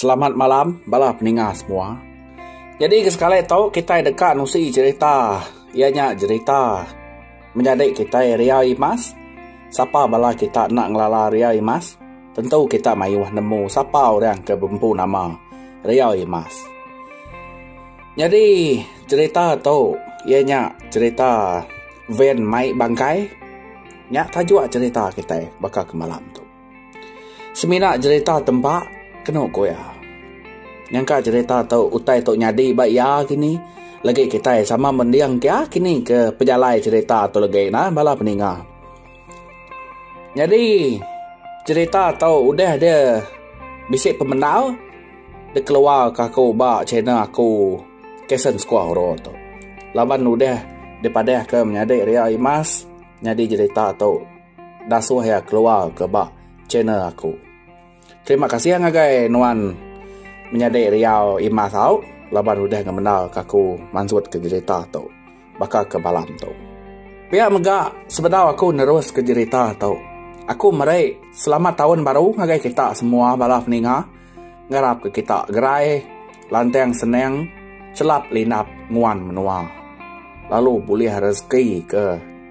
Selamat malam bala peninga semua. Jadi ke sekali tu kitai deka nusi jerita iya nya jerita menyadi kitai Ria Imas. Sapa bala kita enda ngelala Ria Imas tentu kita mayuh nemu sapa orang ke bempu nama Ria Imas. Nyadi jerita tu iya nya jerita van mai bangkai nya tajuk jerita kitai baka ke malam tu. Semina jerita tempa kenu ku iya. Nyangka jerita tu utai tu nyadi ba iya kini legi kitai sama mending ke iya kini ke pejalai jerita tu legi na bala peninga. Nyadi jerita tu udah dia bisi pemendar dikeluarka aku ba channel aku Kason Skuah Oro tu. Laban udah dipadahka menyadi ria imas nyadi jerita tu. Dasuh iya keluar ke ba channel aku. Terima kasih ngagai nuan menyadi riau imas au laban udah ngemendar ka aku mansut ke jerita tu baka ke malam tu. Pia mega sebedau aku nerus ke jerita tu. Aku meri selamat taun baru ngagai kita semua bala peninga. Ngarap ke kita gerai lantang senang chelap linap nguan menua lalu bulih rezeki ke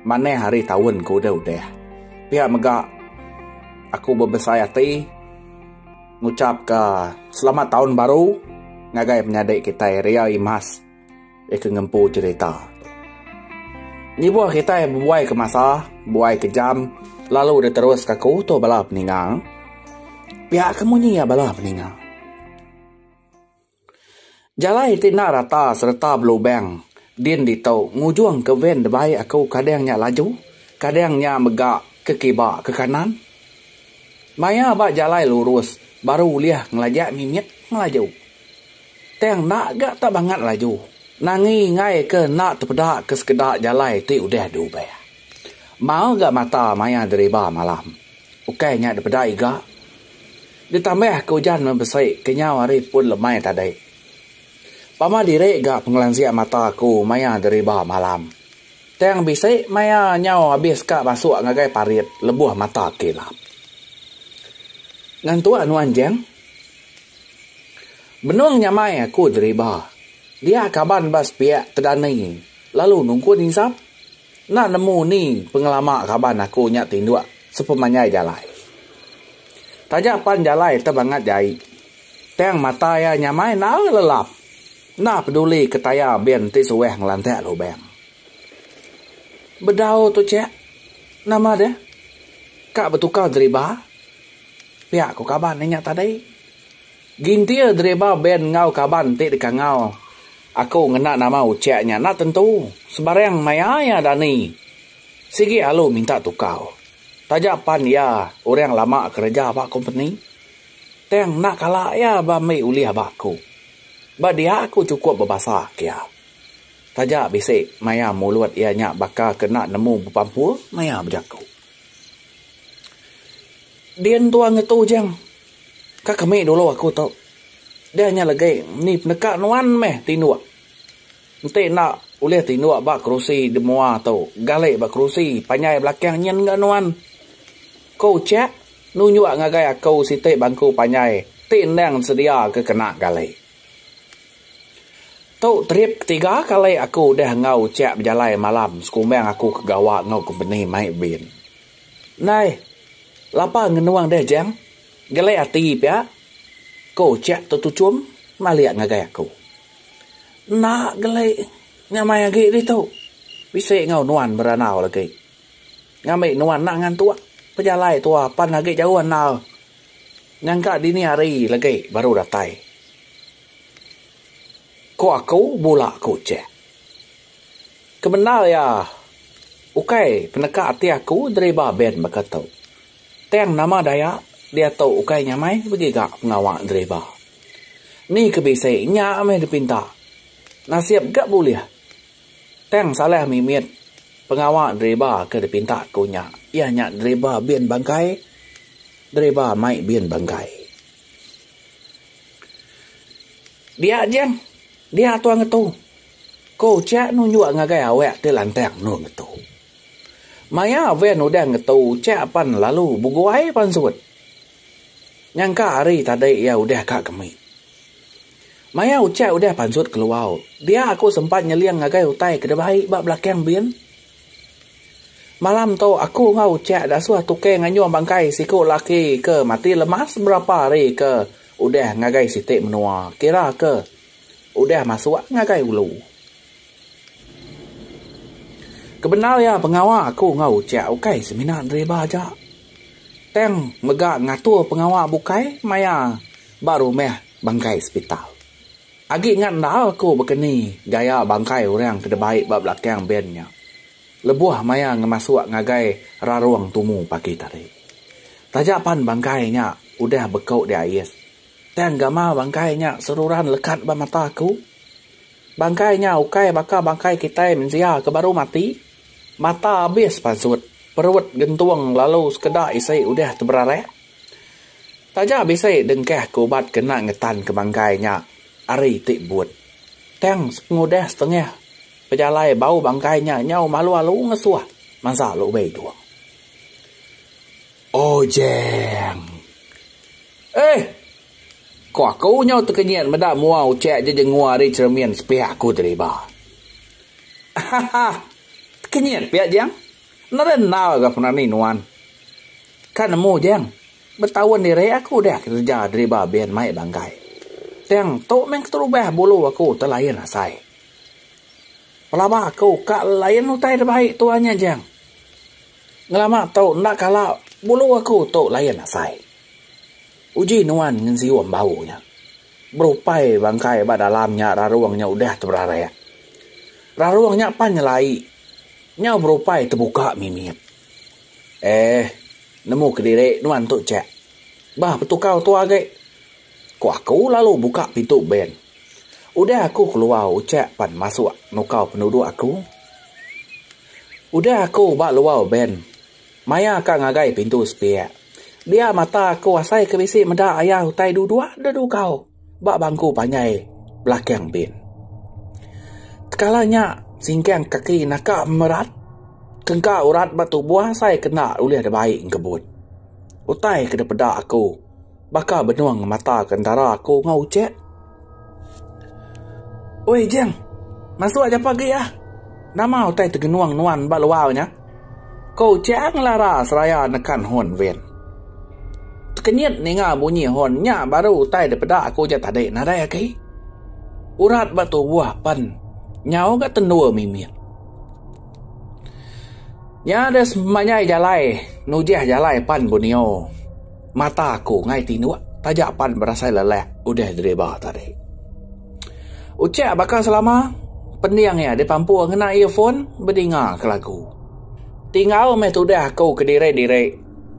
manah hari taun ke udah-udah. Pia mega aku bebesai ati ngucapka selamat taun baru ngagai penyadi kitai Ria Imas. Iya ke ngempu cherita. Ngibuh kitai bebuai ke masa, bebuai ke jam lalu deh terus ka ke utuh bala peninga. Pia ke munyi iya bala peninga. Jalai ti enda rata sereta belubang din ditu ngujung ke van debai aku kadang nya laju, kadang nya mega ke kiba ke kanan. Maya ba jalai lurus baru ulih ngelajak mimit ngelaju. Tang enda ga tak bangat laju nangi enggai ke enda tepeda ke sekeda jalai ti udah diubah. Mau ga mata maya diriba malam. Ukai nya dipeda iga. Ditambah ke ujan meh besi kenyau hari pun lemai tadi. Pama diri ga pengelansik mata aku maya diriba malam. Tang bisi maya nyau abis ka masuk ngagai parit lebuh mata kilap. Ngantuk nuan jang. Benung nyamai aku deriba. Dia kaban ba sepiak Tedani lalu nungkun insap. Enda nemu ni pengelama kaban aku nya tinduk sepemanjai jalai. Taja pan jalai tebangat jai. Tang mata iya nyamai naul lelap. Enda peduli ke taya bin ti suah ngelantak lubang. Bedau tu chek. Nama deh? Ka betukar deriba. Pia ku kaban inya tadi. Gintir deriba band enggau kaban ti deka enggau aku ngena nama Ucek nya enda tentu sebarang maya iya dani sigi alu minta tukar taja pan iya orang lama kereja ba kompeni. Tang enda kala iya ba ambi ulih ba aku. Ba dia aku chukup bebasa ke iya. Taja bisi maya mulut iya nya baka ke enda nemu bepampur maya bejaku. Din tua ngetu ujang. Ka kami dulu aku tu. Deh nya legi ni peneka nuan meh tinduk. Enti enda ulih tinduk ba kerusi di mua tu, gali ba kerusi panjai belakang nyin ga nuan. Ku Chek nunjuk ngagai aku siti bangku panjai ti endang sedia ke kena gali. Tu trip ketiga kali aku udah enggau uchak bejalai malam sekumbang aku ke gawa enggau kompeni mai bin. Ndai lapa ngenung deh Jang, gelek ati pia, ko uchak tu tuchum malik ngagai aku. Enda gelek nyamai agi ditu, bisi enggau nuan berandau lagi. Ngambi nuan enda ngantuk, pejalai tua pan agi jauh andal. Nyangka dini hari legi baru datai. Ko aku bula aku chek. Kebendar iya ukai peneka ati aku deriba band baka tu. Tang nama daya diatu ukai nyamai begiga pengawa deriba. Ni ke bisi nya meh dipinta. Nasib ga bulih. Tang salah mimit pengawa driba ke dipinta ku nya iya nya driba bin bangkai driba mai bin bangkai. Dia jeng dia tua ngetu ku cha nunjuk ngagai awak ti lantang endur ngetu. Maya van udah ngetu cha pan lalu beguai pansut. Nyangka ari tadi iya udah ka kemi. Maya ucak udah pansut keluar, dia aku sempat nyeling ngagai utai ke dibai ba belakang bin. Malam tu aku enggau ucak dasuh tukang nganyuh bangkai siku laki ke mati lemas berapa hari ke udah ngagai siti menua kira ke udah masuk ngagai ulu. Kebendar iya pengawa aku enggau uchek ukai semina driver aja tang mega ngatur pengawa bukai maya ba rumah bangkai sepital. Agi ngat enda aku bekeni gaya bangkai orang ke debai ba belakang ben nya lebuh maya ngemasuk ngagai rarung tumu pagi tadi. Taja pan bangkai nya udah beku diais. Tang gamal bangkai nya seruran lekat ba mata aku. Bangkai nya ukai baka bangkai kitai mensia ke baru mati, mata abis pasut, perut gentung lalu sekeda isi udah teberarak. Taja bisi dengkah ke ubat ke enda ngetanka bangkai nya ari ti but. Tang sepengudah setengah pejalai bau bangkai nya nyau malu-alu ngesuh mansa lubei tu. Ojang. Eih! Ko aku nyau tekenyit meda mua ucik aja jengua ari cheremin sepihak aku tadi ba. Ahahaa! Tekenyit pia Jang. Nadai endar ga penani nuan. Ka nemu Jang, betaun diri aku udah kereja deriba bin mai banggai. Tang tu meh keterubah bulu aku telain asai. Pelaba aku ka lain utai da baik tuan nya Jang. Ngelama tu enda kala bulu aku tu layan asai. Uji nuan ngesiu ambau nya. Berupai bangkai ba dalam nya rarung nya udah teberarek. Rarung nya pan nyelai nyau berupai tebuka mimit. Eh nemu kediri nuan tu chek. Bah betukau tua agi. Ku aku lalu buka pintu bank. Udah aku keluar ucak pan masuk nukar penuduk aku. Udah aku ba luar bank maya ka ngagai pintu sepiak dia mata aku asai ke bisi meda ayah utai duduk dedugau ba bangku panjai belakang bank. Tekala nya singkang kaki naka merat ke engka urat ba tubuh asai kena ulih dibai engkebut. Utai ke dipeda aku. Baka benung mata ke entara aku enggau Ucek. Oi Ijing, masuk japa agi ah. Nama utai tegenung nuan ba luar nya? Ko Ucek ngelara seraya nekan hon van. Tekenyit ninga bunyi hon nya baru utai dipeda aku ja tadi nadai agi. Urat ba tubuh pen nyau ga tendur mimit. Nya deh semanyai jalai nujih jalai pan Bunio. Mata aku ngai tinuk taja pan berasai lelak udah driba tadi. Ucak baka selama pending iya dipampur ngena earphone bedinga ke lagu. Tingau meh tudah aku kediri-diri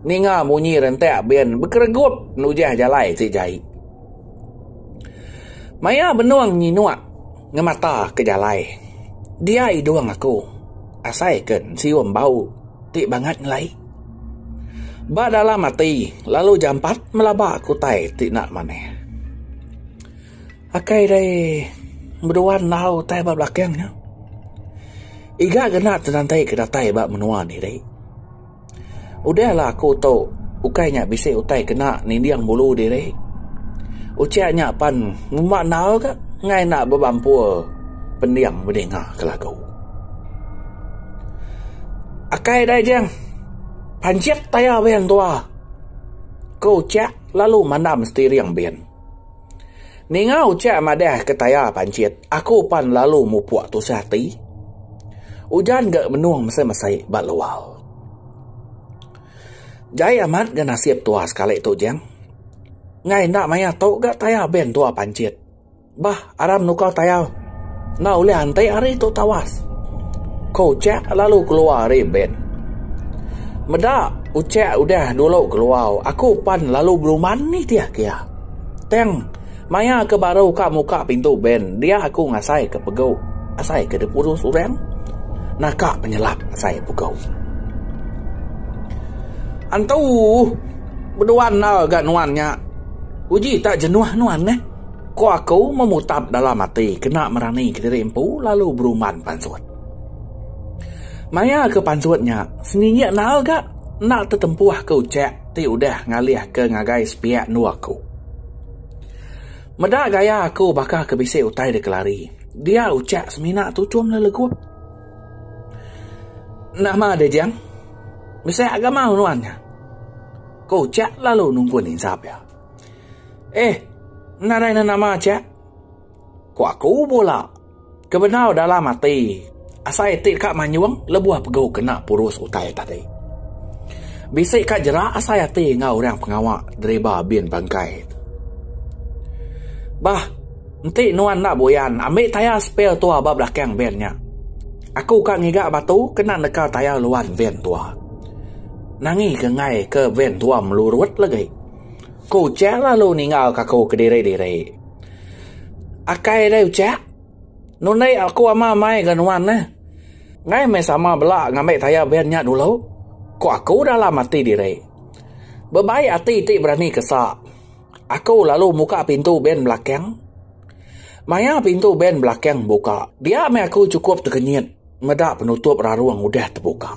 ninga munyi rentak band bekeregup nujah jalai ti jai. Maya benung nyinuk ngemata ke jalai dia idung aku asai ke siung bau ti bangat ngelai. Ba dalam ati, lalu jampat melaba aku utai ti enda manah. Akai dei bedua enggau utai ba belakang nya. Iga ke enda tenantai ke datai ba menua andi dei. Udahlah aku tu ukai nya bisi utai kena ninding bulu diri. Ucha nya pan ngumba enggau ka ngai enda bebampu pending bedinga ke lagu. Akai dai jing. Panjik tayar bin tua. Ku ucak lalu mandam setiring bin. Ninga ucak madah ke tayar panjit aku pan lalu mupuk tusah ati. Ujan ga menung mesai mesai ba luar. Jai amat ga nasib tua sekali tu jing. Ngai enda maya tu ga tayar bin tua panjit. Bah Aram nukau tayau. Enda ulih anti ari tu tawas. Ko Ucek lalu keluar ari ben. Meda Ucek udah dulu keluar aku pan lalu beruman nitih ke iya. Tang maya ke baru ka muka pintu ben dia aku ngasai ke pegu asai ke dipurus urang naka penyelap asai pegu. Antu bedua enda ga nuan nya. Uji tak jenuh nuan neh. Ko aku memutap dalam ati kena meranika diri empu lalu beruman pansut. Maya ke pansut nya, seningi enal ga enda tetempuh ke ucek ti udah ngalih ke ngagai sepiak endur aku. Meda gaya aku baka ke bisi utai deka lari, dia ucek semina tuchum lelegup. Nama dia Jang? Bisi agama nuan nya? Ko ucek lalu nungkun insap iya. Eh, enda anai ne nama aja. Ku aku bula, ke bendar dalam ati asai iti deka manyung lebuh pegu kena purus utai tadi. Bisi ka jerak asai ati enggau orang pengawa deriba bin bangkai tu. Bah, enti nuan enda buyan, ambi tayar spear tua ba belakang van nya. Aku ka ngiga batu kena neka tayar luan van tua. Nangi ke enggai ke van tua melurut legi. Ku Ucak lalu ninggal ka aku kediri-diri. Akai deh Ucak. Nundi aku ama mai ga nuan neh. Ngai meh sama bela ngambi tayar ben nya dulu. Ku aku dalam ati diri. Bebai ati ti berani ke sa. Aku lalu muka pintu ben belakang. Maya pintu ben belakang buka. Dia meh aku chukup tekenyit. meda penutup rarung udah tebuka.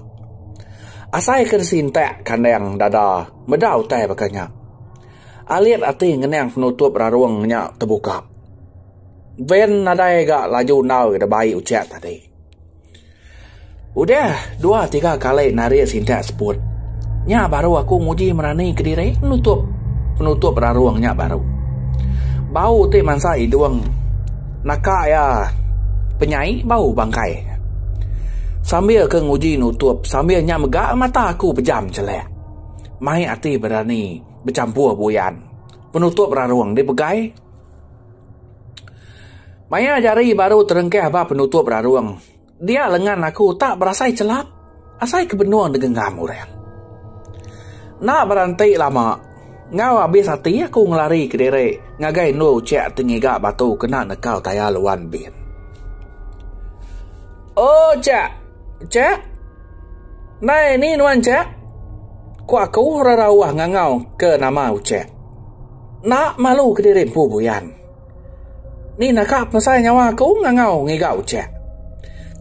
Asai ke disintak kandang dada meda utai baka nya. Alit ati ngenang penutup rarung nya tebuka. Van nadai ga laju enggau ida bai ucha tadi. Udah dua tiga kali narit sintak seput. Nya baru aku nguji merani kediri nutup penutup rarung nya baru. Bau ti mansa idung. Naka iya penyai bau bangkai. Sambil ke nguji nutup sambil nya mega mata aku pejam chelek. Mai ati berani bechampur buyan penutup rarung dipegai. Maya jari baru terengkah ba penutup rarung. Dia lengan aku utak berasai chelap asai ke benung degengam orang. Enda berenti lama, enggau abis ati aku ngelari ke diri ngagai endur uchiak ti ngiga batu kena nekau tayar luan bin. Uchiak! Uchiak! Ndai ni nuan chiak? Ku aku rerauh ngangau ke nama uchiak. Enda malu ke diri empu buyan. Ni naka pemesai nyawa aku ngangau ngiga uchek.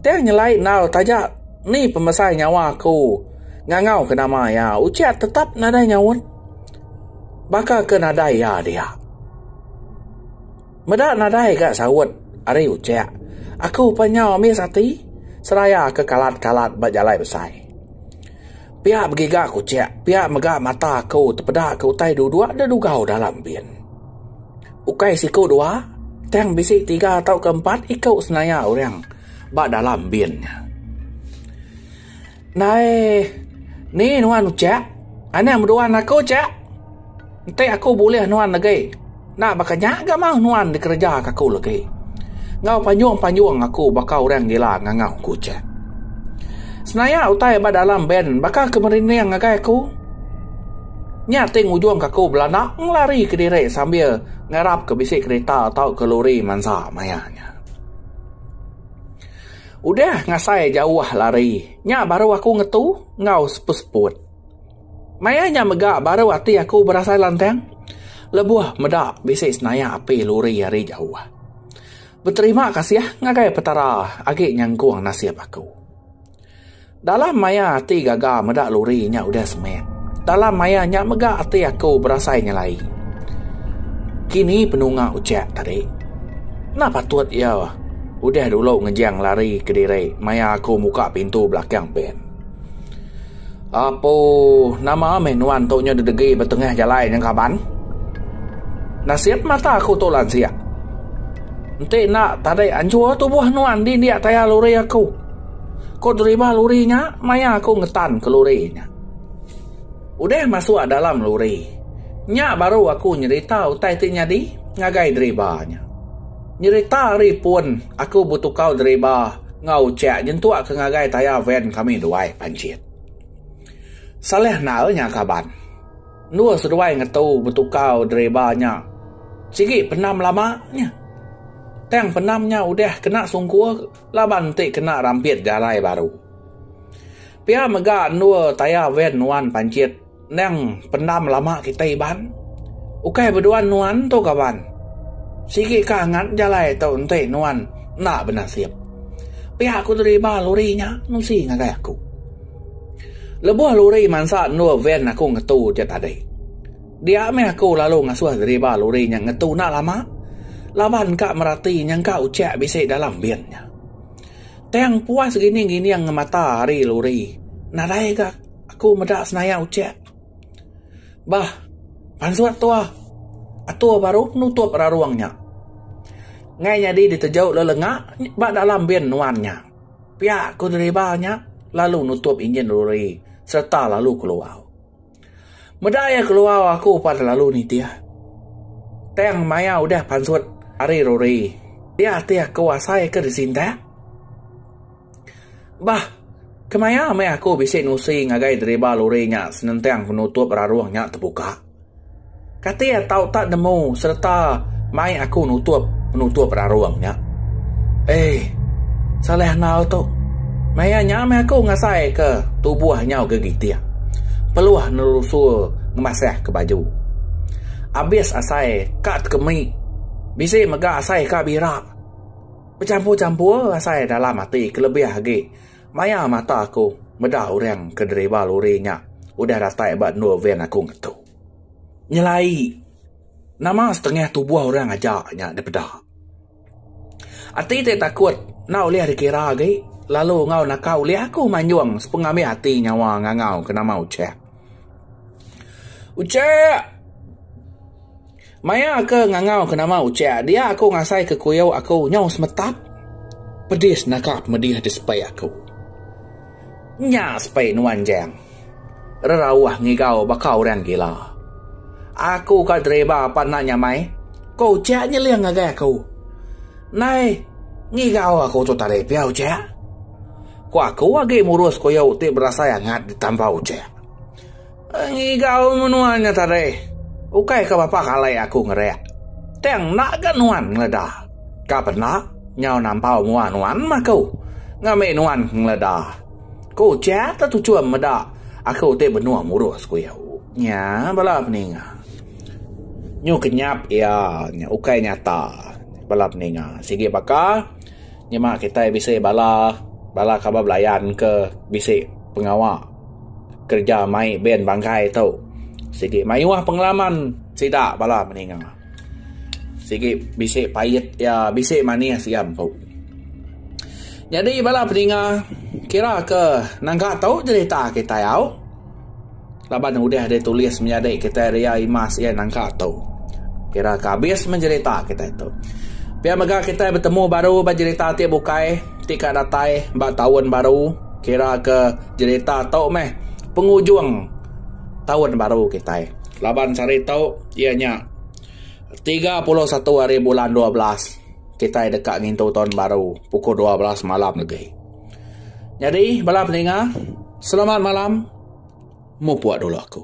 Tang nyelai endar taja ni pemesai nyawa aku ngangau ke nama iya. Uche tetap nadai nyaut. Baka ke nadai iya dia. Meda nadai ga saut ari uche. Aku pan nyau amis ati seraya ke kalat-kalat ba jalai besai. Pia begiga ke uche, pia mega mata aku tepeda ke utai dua-dua da dugau dalam bin. Ukai siku dua, tang bisi tiga tauka empat iku senaya orang ba dalam bin nya. Ndai ni nuan uchak? Anak meduan aku uchak. Enti aku bulih nuan agi, enda baka nya ga mauh nuan dikerejaka aku lagi. Enggau panjung-panjung aku baka orang gila ngangau ku uchak. Senaya utai ba dalam bin baka ke merinding ngagai aku. Nya ti ngujungka aku belanak ngelari kediri sambil ngarapka bisi kereta tauka lori mansa maya nya. Udah ngasai jauh lari, nya baru aku ngetu enggau seput-seput. Maya nya mega baru ati aku berasai lantang lebuh meda bisi senayak api lori ari jauh. Beterima kasih ngagai Petara agi nyangkung nasib aku. Dalam maya ati gaga meda lori nya udah semek. Dalam maya nya mega ati aku berasai nyelai. Kini penunga ucak tadi. Enda patut iya udah dulu ngejang lari kediri maya aku muka pintu belakang pen. Apo nama meh nuan tu nya didegi ba tengah jalai nya kaban? Nasit mata aku tu lansia. Enti enda tadi anjur tubuh nuan di india tayar lori aku. Ku driver lori nya maya aku ngetan ke lori nya. Udah masuk dalam lori nya baru aku nyerita utai ti nyadi ngagai driver nya. Nyerita ari pun aku betukau driver enggau uchek nyentuk ke ngagai taya van kami duai panjit. Salah enal nya kaban. Endur seduai ngetu betukau driver nya sigi pendam lama nya. Tang pendam nya udah kena sungkur. Laban enti kena rampit jalai baru. Pia mega endur taya van nuan panchit endang pendam lama kitai iban. Ukai beduan nuan tu kaban. Sigi ka angat jalai tu enti nuan enda benasip. Pia ku deriba lori nya nusi ngagai aku. Lebuh lori mansa endur van aku ngetu je tadi. Dia meh aku lalu ngasuh driba lori nya ngetu enda lama laban ka merati nyangka ucha bisi dalam bin nya. Tang puas gining-gining ngemata ari lori nadai ga aku meda senaya ucha. Bah pansut tu ah atur baru penutup rarung nya nggai nyadi diteju lalu lenga ba dalam bin nuan nya. Pia ku driba nya lalu nutup injin lori sereta lalu keluar. Meda iya keluar aku pa telalu nitih. Tang maya udah pansut ari Rory, dia ati aku asai ke disintak. Bah, kemaya meh aku bisi nusi ngagai driba lori nya senentang penutup rarung nya tebuka. Kati iya tau tak nemu sereta mai aku nutup penutup rarung nya. Eii. Salai enggau tu. Maya nya meh aku ngasai ke tubuh nyau ke gitik. Peluh nelusur ngemasah ke baju. Abis asai ka tekemi. Bisi mega asai ka bira. Bechampur-champur asai dalam ati kelebih agi maya mata aku meda orang ke driver lori nya udah datai ba endur van aku ngetu. nyelai nama setengah tubuh orang aja nya dipeda. Ati ti takut enda ulih dikira agi lalu enggau naka ulih aku manjung sepengamih ati nyawa ngangau ke nama Ucheck. Ucheck! Maya ke ngangau ke nama ucek dia aku ngasai ke kuyau aku nyau semetap pedis naka pemedih di sepai aku. Nya sepai nuan jang. Rerauh ngigau baka orang gila. Aku ka driver apan enda nyamai, ko ucek nyeling ngagai aku. Nai ngigau aku tu tadi pia ucek. Ko aku agi murus kuyau ti berasai angat ditambah ucek. Ngigau menua nya tadi ukai ke bapa kali aku ngereak. Tang enda ga nuan ngeleda. Ka penda nyau nampau mua nuan meh aku ngambi nuan ke ngeleda. Ku ucha te tuchum meda aku ti benung murus, ku iya. Nya bala peninga nyu kenyap iya nya ukai nyata. Bala peninga sigi baka nyema kitai bisi bala bala kaba belayan ke bisi pengawa. Kereja mai band bangkai tu sigi mayuh pengalaman sida bala meninga. Sigi bisi pait iya bisi manis iya empu. Nyadi bala peninga kira ke nangka tu jerita kitai au laban udah ditulis menyadi kriteria imas iya nangka tu. Kira ke abis meh jerita kitai tu. Pia mega kitai betemu baru ba jerita ti bukai ti ka datai ba taun baru kira ke. Jerita tu meh pengujung taun baru kitai laban sehari tu iya nya tiga puluh satu hari bulan dua belas kitai deka ngintu taun baru pukul dua belas malam legi. Nyadi bala peninga selamat malam mupuk dulu aku.